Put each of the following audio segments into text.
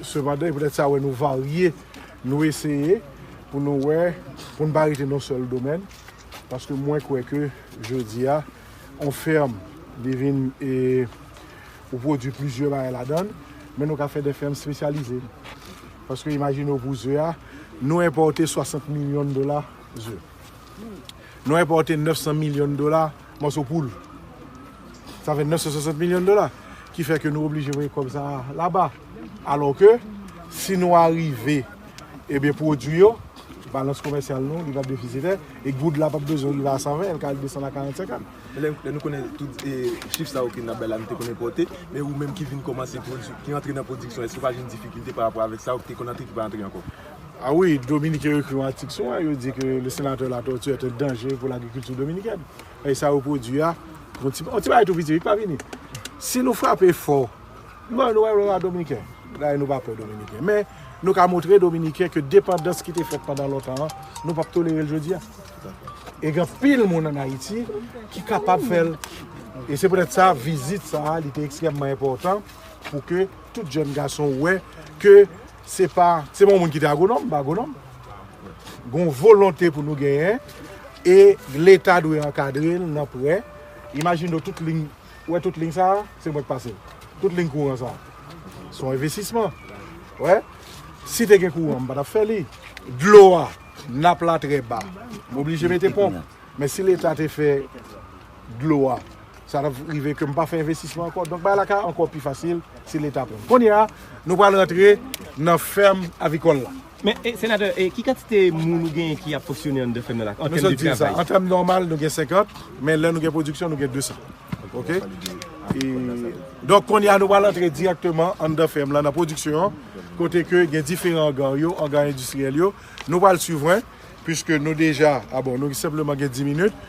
Sepandan, e poutèt sa wè nou varye, nou eseye pou nou wè, pou n pa rete nan yon sèl domèn, paske mwen kwè ke jodi a, yon fèm li vin e ou pwodui plizyè bagay ladan l, men nou ka fè de fèm spesyalize. Paske imajine w pou ze a, nou enpòte 60 milyon dola ze. Nou enpòte 900 milyon dola mòso poul. Sa fè 960 milyon dola. Ki fè ke nou oblije voye kòb sa laba. Alò ke, si nou arive, ebyen pwodwi yo, balans komèsyal nou, li va defisitè, e goud la pap bezwen rive a 120, el ka desann a 40, 50. Men lè nou konnen tout chif sa yo ke nap bay la nou te konn enpòte, men ou menm ki vin kòmanse pwodwi, ki antre nan pwodiksyon, èske pa gen difikilte pa rapò avèk sa ou te konn antre ki pa antre ankò? A wi, Dominiken yo ekri yon atik sou mwen, yo di ke le senatè Latortue est un danger pour l'agriculture dominicaine. Paske sa yo pwodui a, yon ti yon ti bagay tou piti, li pa vini. Si nou frape fò, nou wè nou pa Dominiken. Dayè nou pa pè Dominiken. Men, nou ka montre Dominiken ke depandans ki te fèt pandan lontan an, nou p ap tolere l jodi a. E gen anpil moun ann Ayiti ki kapab fè l. E se poutèt sa, vizit sa a, li te ekstrèmman enpòtan pou ke tout jèn gason wè ke Se pa, se pa yon moun ki te agwonòm, m pa agwonòm. Gon volonte pou nou genyen e leta dwe ankadre l nan prè. Imajine w tout liy, ou wè tout liy sa a, se mwen k pase l. Tout liy kouran sa a, se yon envestisman. Ou wè, si te gen kouran, m pa t ap fè li. Dlo a, nap la trè ba, m oblije mete ponp. Men si leta te fè dlo a sa tap rive ke m pa fè envestisman ankò donk bagay la ka ankò pi fasil si leta pran n kounya nou pral rantre nan fèm avikòl la. Men senatè ki kantite moun ou genyen ki ap fonksyone anndan fèm nan la an tèm de travay? An tèm nòmal nou gen 50 men lè nou gen pwodiksyon nou gen 200 ok donk kounya nou pral rantre dirèkteman anndan fèm lan nan pwodiksyon kote ke gen diferan anga yo anga endistriyèl yo nou pral swiv mwen pwiske nou deja a bon nou senpleman gen 10 minit.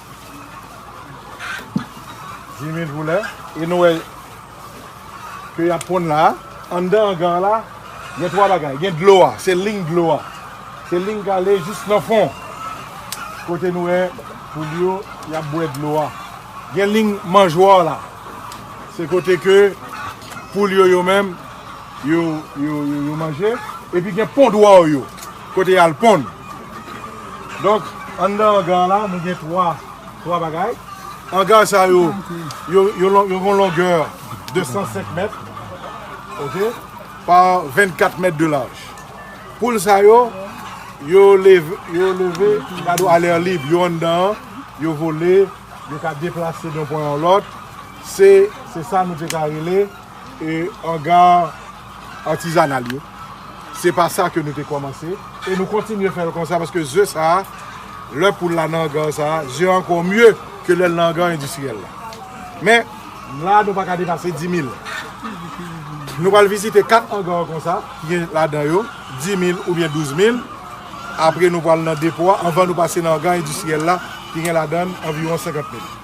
Jimmy voulè e nou wè ke yap ponn la a. Anndan angan an la gen 3 bagay, gen dlo a, se ling dlo a. Se ling k ale jis nan fon kote nou wè poul yo yap bwè dlo a. Gen ling manjwa la, se kote ke poul yo yo menm yo manje. Epi gen pondwa yo. Kote yal ponn. Donk anndan angar la nou gen 3 3 bagay. Angar sa yo yo yo gon longè 205 mèt ok pa 24 mèt de laj. Poul sa yo yo leve yo leve gade yo alè lib yo anndan an yo vole yo ka deplase de yon pwen a yon lòt se se sa nou te ka rele. E anga artisanal yo. Se pa sa ke nou te komanse. E nou kontinye fè l konsa paske ze sa a, lè poul la nan anga sa a, ze a anko mye ke lè l nan anga endistriyèl la. Men, la a nou pa ka depase 10.000. Nou pral vizite 4 anga konsa ki gen ladan yo 10.000 oubyen 12.000. Apre nou pral nan depo a anvan nou pase nan anga endistriyèl la ki gen ladan anviwon 50.000.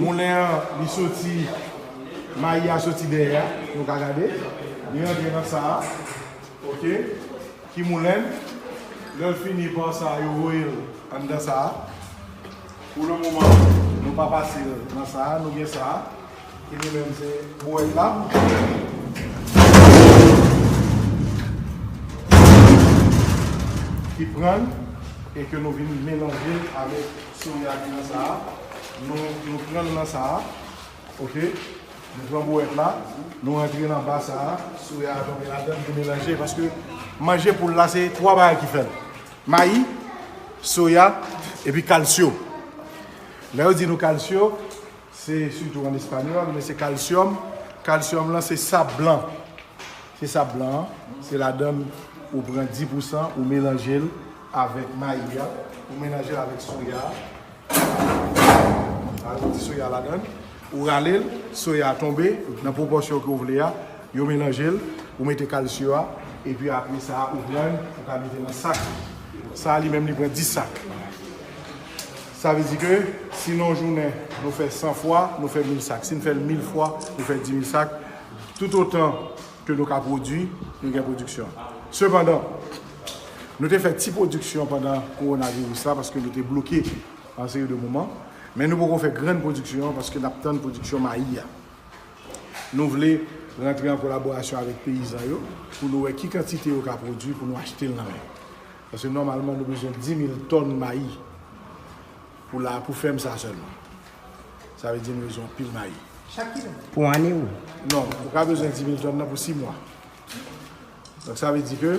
Moulen an li soti, mayi a soti dèyè a, nou ka gade, li rantre nan sa a, ok, ki moulen l, lè l fini par sa a yo voye l anndan sa a, pou le moman nou pa pase l nan sa a, nou gen sa a. Epi menm se bouwèt la. Ki pran l. E ke nou vin melanje l avèk soya ki nan sa a. Nou pran l nan sa a. Ok. Nou pran bouwèt la. Nou antre nan ba sa a. Soya a tonbe ladan l pou melanje. Paske manje poul la se 3 bagay ki fè l. Mayi, soya, epi kalsyo. Lè yo di nou kalsyo. Se sitou an espanyòl men se kalsyòm. Kalsyòm lan se sab blan. Se sab blan an. Se ladann ou pran 10 pousan ou melanje l avèk mayi a. Ou melanje l avèk soya a. Ou mete soya ladann. Ou rale l. Soya a tonbe nan pwopòsyon ke w vle a. Yo melanje l. Ou mete kalsyo a. Epi apre sa a ou pran. Ou ka mete nan sak. Sa a li menm li pran 10 sak. Sa vle di ke si nan yon jounen nou fè 100 fwa, nou fè 1000 sak. Si nou fè l 1000 fwa, nou fè 10000 sak. Toutotan ke nou ka pwodui, nou gen pwodiksyon. Sepandan, nou te fè ti pwodiksyon pandan kowonaviris la paske nou te bloke yon seri de moman. Men nou poko fè grann pwodiksyon an paske n ap tann pwodiksyon mayi a. Nou vle rantre an kolaborasyon avèk peyizan yo pou nou wè ki kantite yo ka pwodui pou nou achte l nan men yo. Paske nòmalman nou bezwen 10.000 tòn mayi pou la pou fèm sa sèlman. Sa vle di nou bezwen anpil mayi. Chak kilè? Pou ane ou? Non, ou ka bezwen 10.000 tòn nan pou 6 mwa. Donk sa vle di ke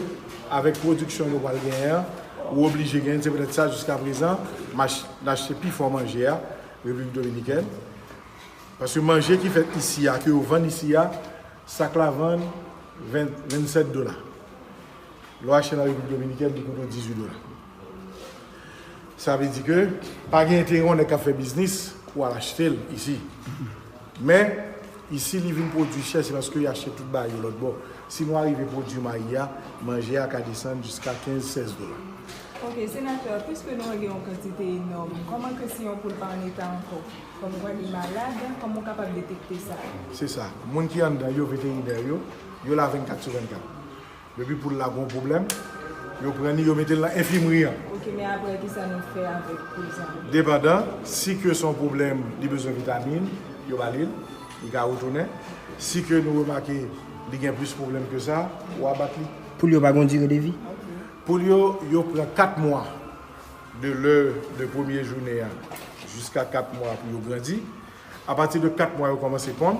avèk pwodiksyon nou pral genyen an, ou oblije genyen, se poutèt sa jiska prezan n achte pi fò manje a Repiblik Dominikèn. Paske manje ki fèt isi a, ke yo vann isi a, sak la vann 27 dola. Lò achte nan Repiblik Dominikèn li koute w 18 dola. Sa vle di ke pa gen enterè yon nèg k ap fè biznis pou al achte l isi. Men, isi li vin pwodui chè se paske yo achte tout bagay yo lòtbò. Si nou arive pwodui mayi a, manje a ka desann jiska 15, 16 dola. Ok, Senatè, piske nou an gen yon kantite enòm, kòman ke si yon poul pa an eta ankò? Kòmkwa li malad, kòman ou kapab detekte sa? Se sa. Moun ki anndan yo, veterinè yo, yo la 24 sou 24. Depi poul la gon pwoblèm, yo pran li yo mete l nan enfimri an. Ok, men aprè kisa nou fè avèk poul sa? Depandan, si ke son pwoblèm li bezwen vitamin, yo ba li l, li ka retounen. Si ke nou remake li gen plis pwoblèm ke sa, ou abat li. Poul yo pa gon dire de vi? Poul yo, yo pran 4 mwa de lè de premye jounen an jiska 4 mwa pou yo grandi. Apati de 4 mwa yo kòmanse ponn.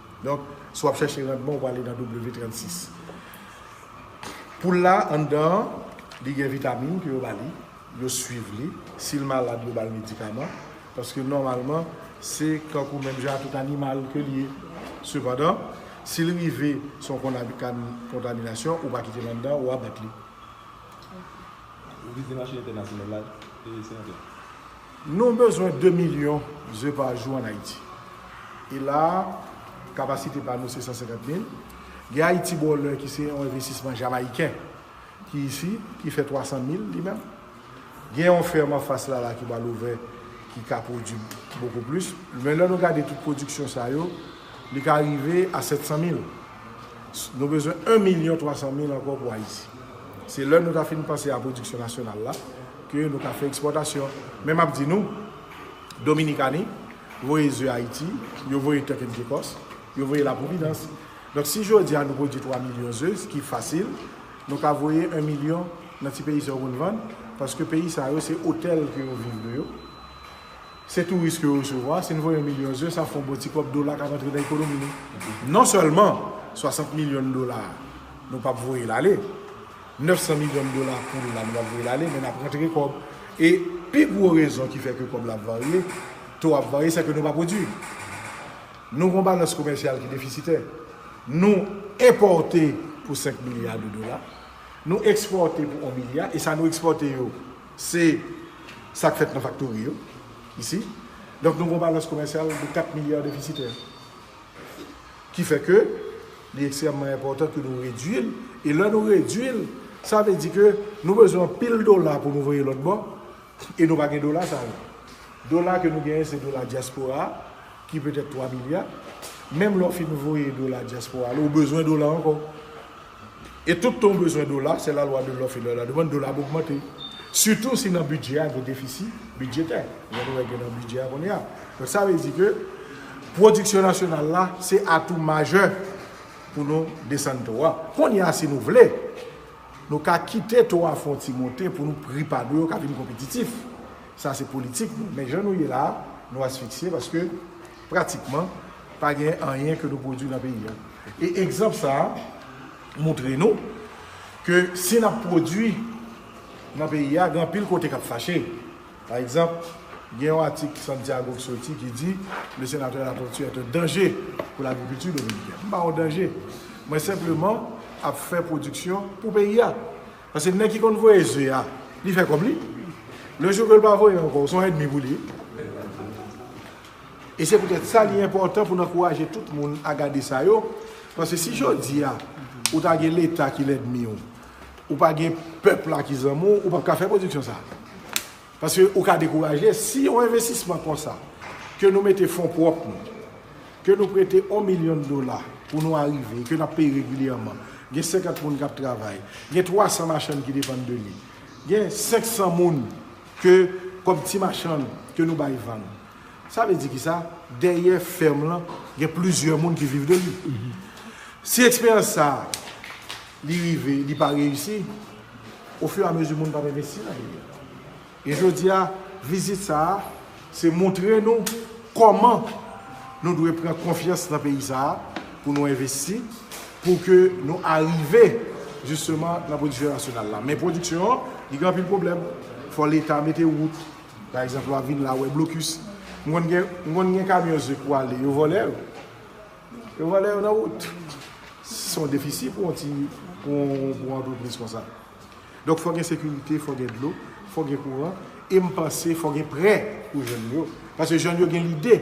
Donk, si w ap chèche randman, ou prale nan W36. Poul la, anndan an, li gen vitamin ke yo ba li, yo swiv li. Si l malad, yo ba l medikaman. Paske nòmalman, se kankou menm jan a tout animal ke l ye. Sepandan, si l rive se yon kontaminasyon, ou pa kite l anndan, ou abat li. Ou vize mache entènasyonal la, e se yon tè. Nou bezwen 2 milyon ze pa jou an Ayiti. E la a, kapasite pa nou se 150 mil. Gen Ayiti Bòlè ki se yon envestisman Jamayiken ki isi, ki fè 300 mil li menm. Gen yon fèm anfas la la ki pral ouvè ki ka pwodui bokou plis. Men lè nou gade tout pwodiksyon sa yo, li ka rive a 700 mil. Nou bezwen 1 milyon 300 mil ankò pou Ayiti. Se lè nou ta fin panse a pwodiksyon nasyonal la, Ke nou ka fè ekspòtasyon. Men map di nou, Dominikani voye ze Ayiti, yo voye Turk and Caicos, yo voye la Providence. Donk si jodi a nou pwodui 3 milyon ze, ki fasil, nou ka voye 1 milyon nan ti peyi sa yo konn vann, paske peyi sa yo se otèl ke yo viv de yo, se touris ke yo resevwa, si nou voye 1 milyon ze, sa fè yon bon ti kòb dola kap antre nan ekonomi nou. Non sèlman 60 milyon dola nou pap voye l ale, 900 milyon dola poul la nou pap voyel ale men nap rantre kòb e pi gwo rezon ki fè ke kòb la ap varye to ap varye sèke nou pa pwodwi nou gon balans komèsyal ki defisitè nou enpòte pou 5 milya de dola nou ekspòte pou 1 milya e sa nou ekspòte yo se sak fèt nan faktori yo isi donk nou gon balans komèsyal de 4 milya defisitè. Ki fè ke li ekstrèmman enpòtan ke nou redui l, e lè nou redui l, sa vle di ke nou bezwen anpil dola pou nou voye lòt bò, e nou pa gen dola sa yo. Dola ke nou genyen se dola dyaspora a, ki petèt 3 milya, menm lè w fin voye dola dyaspora la, ou bezwen dola ankò. E tout tan w bezwen dola, se la lwa de lòf e lwa de la demann, dola ap ogmante. Sitou si nan bidjè a gen defisi bidjetè, jan nou wè gen nan bidjè a kounye a. Donk sa vle di ke pwodiksyon nasyonal la se atou majè pou nou desann to a. Kounye a si nou vle, nou ka kite to a fè yon ti monte pou nou pri pa nou yo ka vin konpetitif. Sa se politik nou. Men jan nou ye la a, nou asfiksye paske Pratikman, pa gen anyen ke nou pwodwi nan peyi a. E egzanp sa a moutre nou ke si n ap pwodwi nan peyi a, gen anpil kote k ap fache. Pa egzanp, gen yon atik Santiago ki soti ki di, Le Sénateur Latortue est un danger pour l'agriculture dominicaine. M pa yon danje. Mwen senpleman ap fè pwodiksyon pou peyi a. Paske nèg ki konn voye ze a, li fè kòb li. Le jou ke l pa voye ankò, ou se yon èdmi pou li. E se poutèt sa li enpòtan pou n ankouraje tout moun a gade sa yo, paske si jodi a ou ta gen leta ki lèdmi w, ou pa gen pèp la ki zanmi w, ou p ap ka fè pwodiksyon sa. Paske ou ka dekouraje si yon envestisman konsa ke nou mete fon pwòp nou, ke nou prete yon milyon dola pou nou arive, ke n ap peye regilyèman, gen 50 moun k ap travay, gen 300 machann ki depann de li, gen 500 moun Ke kòb ti machann ke nou bay vann. Sa vle di kisa? Dèyè fèm lan gen plizyè moun ki viv de li. Si eksperyans sa a li rive li pa reyisi, ofiramezi moun pa p envesti nan li. E jodi a vizit sa a Se montre nou kòman nou dwe pran konfyans nan peyi sa a pou nou envesti, pou ke nou arive jisteman nan pwodiksyon nasyonal la. Men pwodiksyon an, li gen anpil pwoblèm. Fò leta mete wout, pa egzanp lwa vin la, wè blokis. M konn gen kamyon ze k pou ale, yo vòlè yo. Yo vòlè yo nan wout. Se yon defisi pou yon antrepriz konsa. Donk fò gen sekirite, fò gen dlo, fò gen kouran, e m panse fò gen prè pou jèn yo. Paske jèn yo gen lide,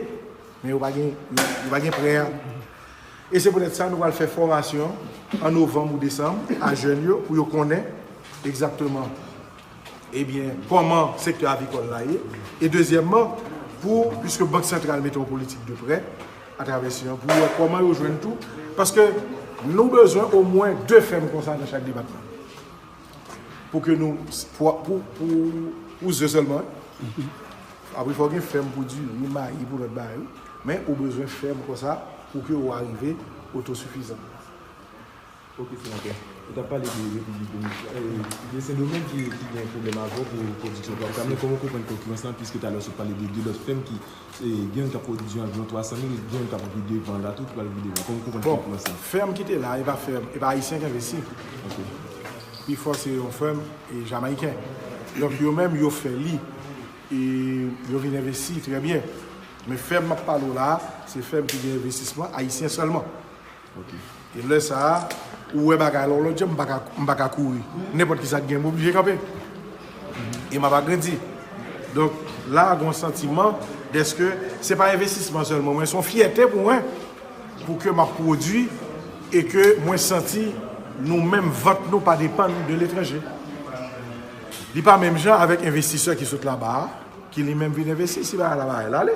men yo pa gen yo pa gen prè a. E se poutèt sa nou pral fè fòmasyon an novanm ou desanm a jèn yo pou yo konnen egzakteman ebyen kòman sektè avicole la ye. E dezyèmman pou, piske bank santral mete yon politik de prè, a travè siyon an pou yo wè kòman yo jwenn tou paske nou bezwen omwen 2 fèm konsa nan chak depatman pou ke nou pou ze sèlman apre fò gen fèm pou di ni mayi pou lòt bagay men ou bezwen fèm konsa pou ke ou arive otosifizan. Ok senatè, ou tap pale de Repiblik Dominikèn, de Sendomeng ki gen pwoblèm avèw pou pwodiksyon plak sa, men kòman ou konprann konkirans la pwiske talè ou sot pale de 2 lòt fèm ki gen youn kap pwodiksyon anviwon 300 mil e gen youn kap vide van la tou ki pral vide van, kòman ou konprann konkirans la? Bon, fèm ki te la e pa fèm, e pa ayisyen ki envesti, pi fò se yon fèm jamayiken, donk yo menm yo fè li e yo vin envesti trè byen, men fèm map pale w la se fèm ki gen envestisman ayisyen sèlman. E lè sa a, ou wè bagay la yon lòt jan, m pa ka kouri. Nenpòt ki sa ki gen, m oblije kanpe. E m ap agrandi. Donk, la a gen yon santiman dèske se pa envestisman sèlman, men se yon fyète pou mwen pou ke m ap pwodui e ke mwen santi nou menm vant nou pa depann de letranje. Li pa menm jan avèk envestisè ki sot laba a, ki li menm vin envesti, si bagay la pa al ale.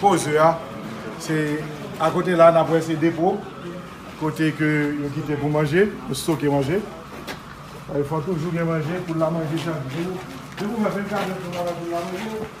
Pose a, se a kote la nap wè se depo, kote ke yo kite pou manje, yo stoke manje. Sa fè fò toujou gen manje pou la manje chak jou. Depi ou fè 24 èdtan wap gen pou la manje.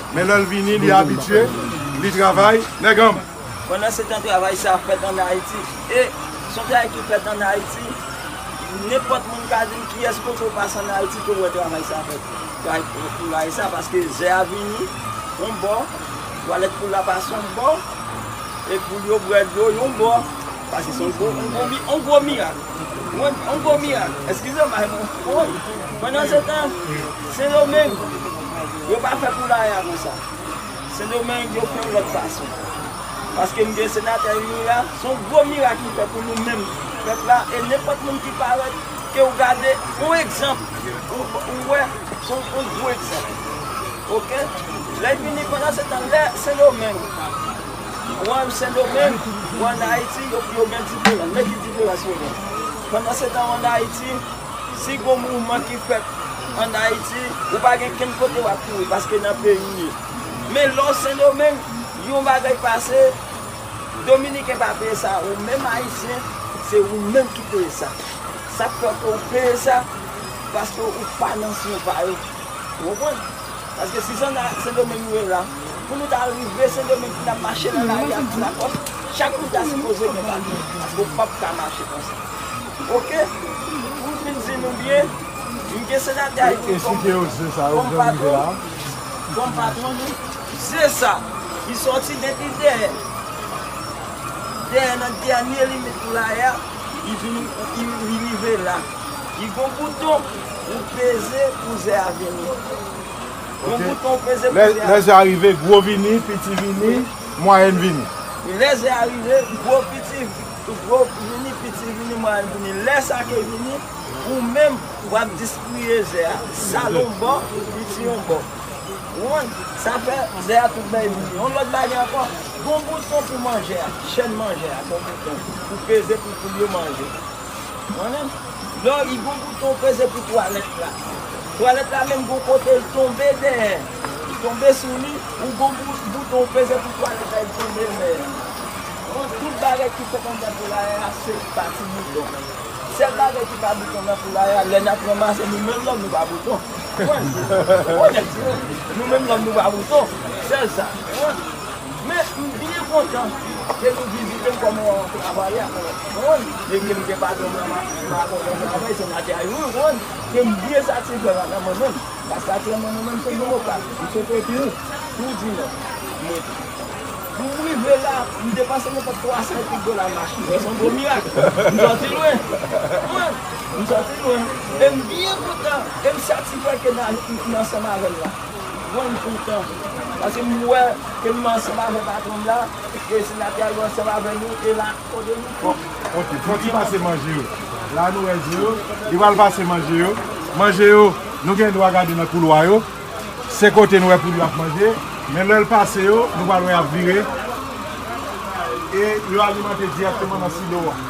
Men lè l vini, li abitye, li travay. Nèg an. Pandansetan travay sa a fèt ann Ayiti. E, s on travay ki fèt ann Ayiti. Nenpòt moun ka di m kiyès kote w pase ann Ayiti ke w wè travay sa a fèt. Travay poulaye sa a, paske ze a vini yon bò, twalèt poul la pase yon bò, e poul yo bwè dlo yon bò. Pase son gwo on gwo mi on gwo mirak mwen on gwo mirak eskizem bay mwen woy pandan se tan sendomeng yo pa fè poulaya konsa sendomeng yo fè yon lòt fason paske m gen senatè youri a son gwo mirak li fè pou nou menm pèp la e nenpòt moun ki parèt ke ou gade yon egzanp ou wè son on gwo egzanp ok lè fini pandan se tan lè sendomeng. Ou an Sendomeng, ou an Ayiti, yo gen diferans. Men ki diferans yo gen. Pandansetan ou an Ayiti, si gon mouvman ki fèt an Ayiti, ou pa gen kenn kote wap kouri paske nan peyi ou ye. Men lè ou Sendomeng, yon bagay pase, Dominiken pa peye sa, ou menm Ayisyen, se ou menm ki peye sa. Sak fè ke ou peye sa, paske ou pa nan swen pa yo. Ou konprann? Paske si zona sendomeng nou ye la pou nou ta rive sendomeng pou nap mache nan lari a pou lakòs chak moun ta sipoze gen papye paske ou pap ka mache konsa ok poum fin di nou byen m gen senatè ayiti kòm patwon kòm patwon nou ze sa ki sòti depi dèyè dèyè nan dènye limit poulaye a li vini li rive la li gon bouton. Ou peze pou ze a vini. Yon bouton ou peze pou ze a vini. Lè ze a rive, gwo vini, piti vini, mwayèn vini. Lè ze a rive, gwo vini, piti vini, mwayèn vini. Lè sa ke vini, ou menm w ap distriye ze a. Sal yon bò, piti yon bò. Ou konprann? Sa fè ze a tout bèy vini. Yon lòt bagay ankò, gon bouton pou manje a. Chèn manje a, gon bouton. Ou peze pou poul yo manje. Mwen menm Lò li gon bouton ou peze pou twalèt la Twalèt la menm gon kote l tonbe dèyè Li tonbe sou li Ou gon bouton ou peze pou twalèt la li tonbe dèyè Mwen tout bagay ki fèt anndan poulaye a se pa ti bouton Sèl bagay ki pa bouton nan poulaye a lè n ap ranmase nou menm lòm nou pa bouton Ou konprann Ou onèt Nou menm lòm nou pa bouton Sèl sa Ou konprann. Men m byen kontan ke nou vizite m kòm yon travayè mwen konprann e ke m gen patwon m nan m ap kontan m travay senatè a yon konprann ke m byen satisfè ladan mwen menm paske aktyèlman mwen menm se demokrat m se te tou tou di nò m rete pou m rive la m depanse nenpòt 300 e kèk dola nan machin men se yon gwo mirak m sòti lwen konprann m sòti lwen e m byen kontan e m satisfè ke nan ansanm avè m la. Jwenn toutan. Paske m wè ke m ansanm avè patwon m la, e se la ke al ansanm avè nou, e la o de nou tou. Ok, fok li pase manje yo. La nou wè zo yo, li pral pase manje yo. Manje yo, nou gen dwa gade nan koulwa yo. Se kote nou wè poul yo ap manje. Men lè l pase yo, nou pral wè y ap vire, e yo alimante dirèkteman nan silo a.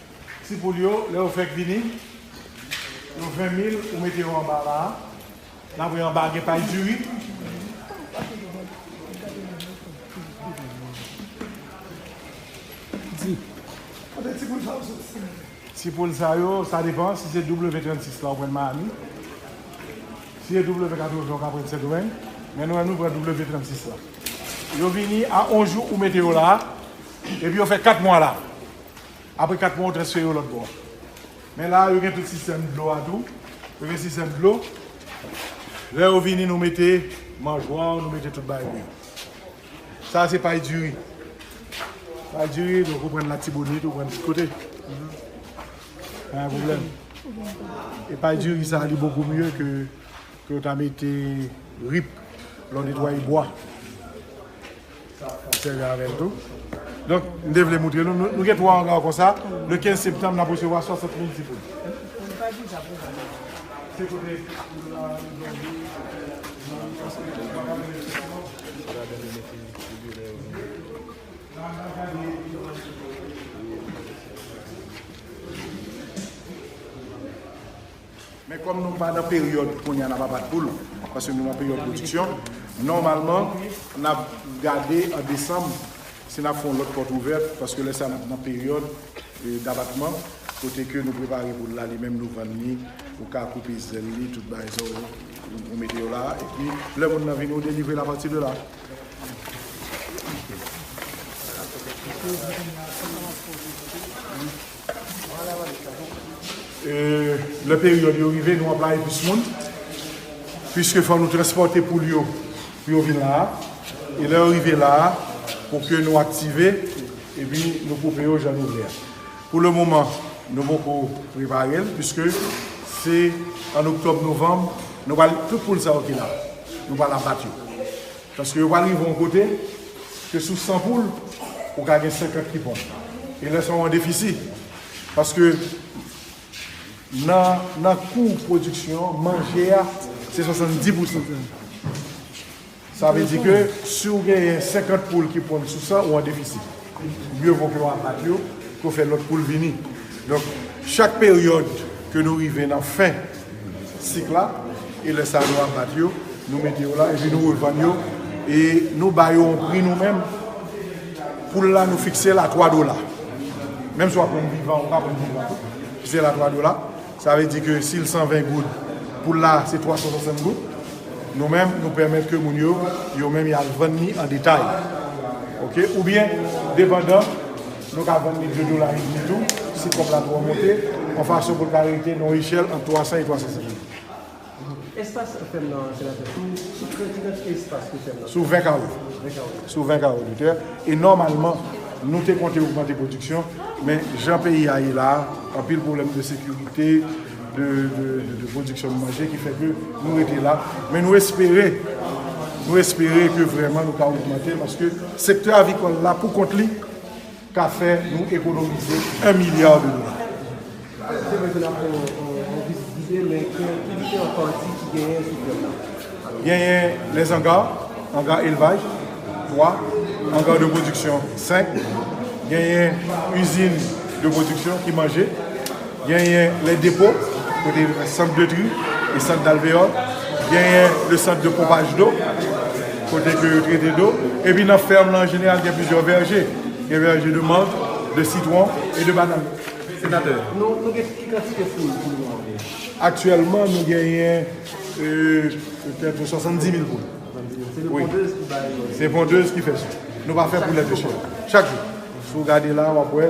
Ti poul yo lè yo fèk vini yo 20 mil ou mete yo anba la apre anba gen pay diri ti poul sa yo sa depan si se w36 la ou pran miami si se w80 ou ka pran sendomeng men nou menm nou pran w36 la yo vini a 1 jou ou mete yo la epi yo fè 4 mwa la. Apre 4 mwa ou transfere yo lòt bò a. Men la yo gen tout sistèm dlo a tou. Yo gen sistèm dlo. Lè yo vini nou mete manjwa ou nou mete tout bagay pou yo. Sa a se pay diri. Pay diri donk ou prann latibonit ou prann tout kote. Pa gen pwoblèm. E pay diri sa a li bokou mye ke ke ou ta mete rip lè w netwaye bwa. Ap sèvi avè l tou. Donk, m te vle moutre nou, nou gen 3 angaw konsa, le 15 septanm n ap resevwa 60 mil ti poud. Men kòm nou pa nan peryòd kounye a n ap abat poul, paske nou nan peryòd pwodiksyon, nòmalman n ap gade an desanm si n ap fè yon lòt pòt ouvè, paske lè sa a n ap nan peryòd dabatman, kote ke nou prepare poul la, li menm nou vann li, ou ka koupe zèl li, tout bagay sa yo, ou mete yo la, epi lè moun nan vini ou delivre l apati de la. Lè peryòd yo rive, nou anplaye plis moun. Piske fò nou transpòte poul yo pou yo vin la a. E lè yo rive la a, pou ke nou aktive, epi nou koupe yo jan nou vle a. Pou le moman, nou poko prepare l, piske se an oktòb, novanm, nou pral, tout poul sa yo ki la, nou pral abat yo. Paske yo pral rive yon kote ke sou 100 poul, ou ka gen 50 ki bon. E lè sa ou an defisi. Paske nan kou pwodiksyon, manje a se 70 pousan. Sa vle di ke si ou genyen 50 poul ki ponn sou 100, ou an defisi. Mye vo ke w abat yo ke w fè lòt pou l vini. Donk, chak peryòd ke nou rive nan fen sik la, e lè sa nou abat yo, nou mete yo la, epi nou revann yo, e nou ba yo yon pri nou menm, poul la nou fikse l a 3 dola. Menm si w ap vann vivan ou pa vann vivan tou, fikse l a 3 dola. Sa vle di ke si l 120 goud, pou l la se 365 goud. Nou menm nou pèmèt ke moun yo, yo menm y al vann ni an detay. Ok. Oubyen, depandan, nou ka vann ni 2 dola edmi tou, si kòb la twò monte, yon fason pou l ka rete nan yon echèl ant 300 e 350. Espas fèm nan an, Senatè, sou ki kantite espas ki fèm nan an? Sou 20 kawo. 20 kawo. Sou 20 kawo de tè. E nòmalman, nou te konte ogmante pwodiksyon, men jan peyi a ye la a, anpil pwoblèm de sekirite, de pwodiksyon de manje ki fè ke nou rete la. Men nou espere, nou espere ke vrèman nou ka ogmante paske sektè avicole la pou kont li, ka fè nou ekonomize 1 milya de dola. Genyen les anga, anga elvaj, 3, anga de pwodiksyon, 5, genyen izin de pwodiksyon ki manje. Genyen les dépôts, kote centre de tri et centre d'alvéole. Genyen le centre de pompage d'eau, kote ke yo trete dlo. Epi nan ferme lan an jeneral gen plizyè verge. Gen verge de menthe, de citron et de banane. Senatè. Nou gen ki kantite poul pou nou an menm? Aktyèlman nou genyen petèt 70 mil poul. 70 mil. Se pondez ki bay. Se pondez ki fè sa. Nou pa fè poulèt de chè. Chak jou. Si w gade la wap wè.